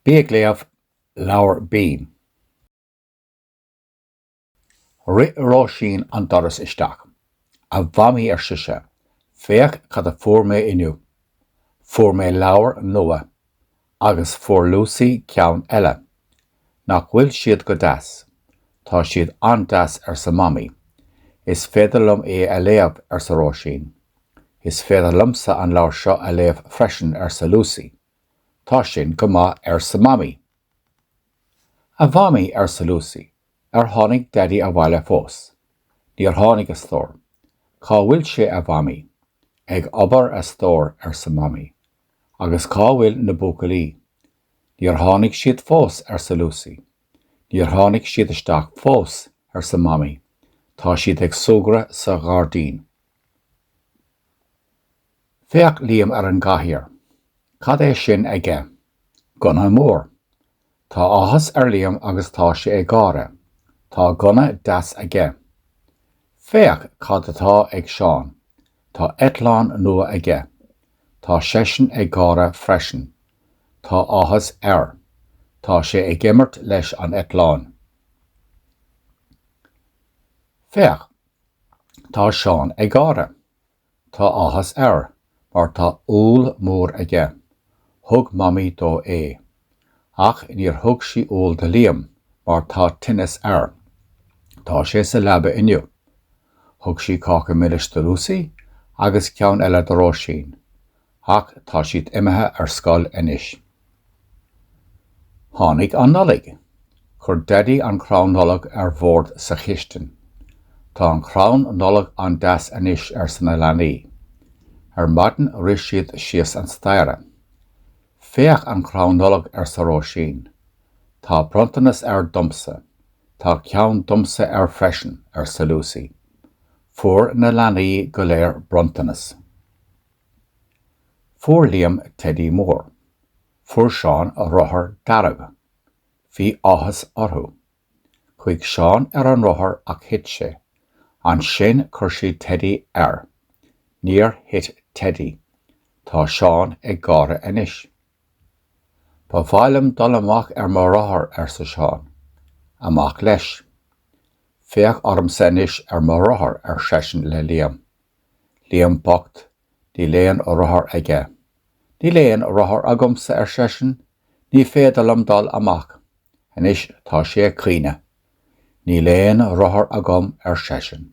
Bí ag Léamh, Leabhar B. Rith Róisín an doras isteach. A Mhamaí, ar sise, féach cad a fuair mé inniu. Fuair mé leabhar nua. Agus fuair Lúsaí ceann eile. Nach bhfuil siad go deas? Tá siad an-deas, arsa Mamaí. Is féidir liom é a léamh, arsa Róisín. Is féidir liomsa an leabhar seo a léamh freisin, arsa Lúsaí. Tá sin go maith arsa Mamaí. A Mhamaí arsa Lúsaí, ar tháinig Daidí abhaile fós? Níor tháinig a stór. Cá bhfuil sé a Mhamaí? Ag obair a stór arsa Mamaí. Agus cá bhfuil na buachaillí? Níor tháinig siad fós arsa Lúsaí. Níor tháinig siad isteach fós arsa Mamaí, tá siad ag súgradh sa ghairdín. Féach Liam ar an gcathaoir. Cad é sin aige? Gunna mór. Tá áthas ar Liam agus tá sé ag gáire. Tá gunna deas aige. Féach cad atá ag Seán. Tá eitleán nua aige. Tá seisean ag gáire freisin. Tá áthas air. Tá sé ag imirt leis an eitleán. Féach! Tá Seán ag gáire. Tá áthas air mar tá úll mór aige. Thug Mamaí dó é. Ach níor thug sí úll do Liam mar tá tinneas air. Tá sé sa leaba inniu. Thug sí cáca milis do Lúsaí agus ceann eile do Róisín. Ach tá siad imithe ar scoil anois. Tháinig an Nollaig. Chuir Daidí an crann Nollag ar bhord sa chistin. Tá an crann Nollag an-deas anois, arsa na leanaí. Ar maidin rith siad síos an staighre. Féach an crann Nollag, arsa Róisín. Tá bronntanas air domsa. Tá ceann domsa air freisin, arsa Lúsaí. Fuair na leanaí go léir bronntanas. Fuair Liam teidí mór. Fuair Seán rothar dearg. Bhí áthas orthu. Chuaigh Seán ar an rothar ach thit sé. Ansin chuir siad teidí air. Níor thit teidí. Tá Seán ag gáire anois. Ba mhaith liom dul amach ar mo rothar, arsa Seán. Amach leis. Féach ormsa anois ar mo rothar, ar seisean le Liam. Liam bocht, níl aon rothar aige. Níl aon rothar agamsa, ar seisean, ní féidir liom dul amach. Anois tá sé ag caoineadh. Níl aon rothar agam, ar seisean.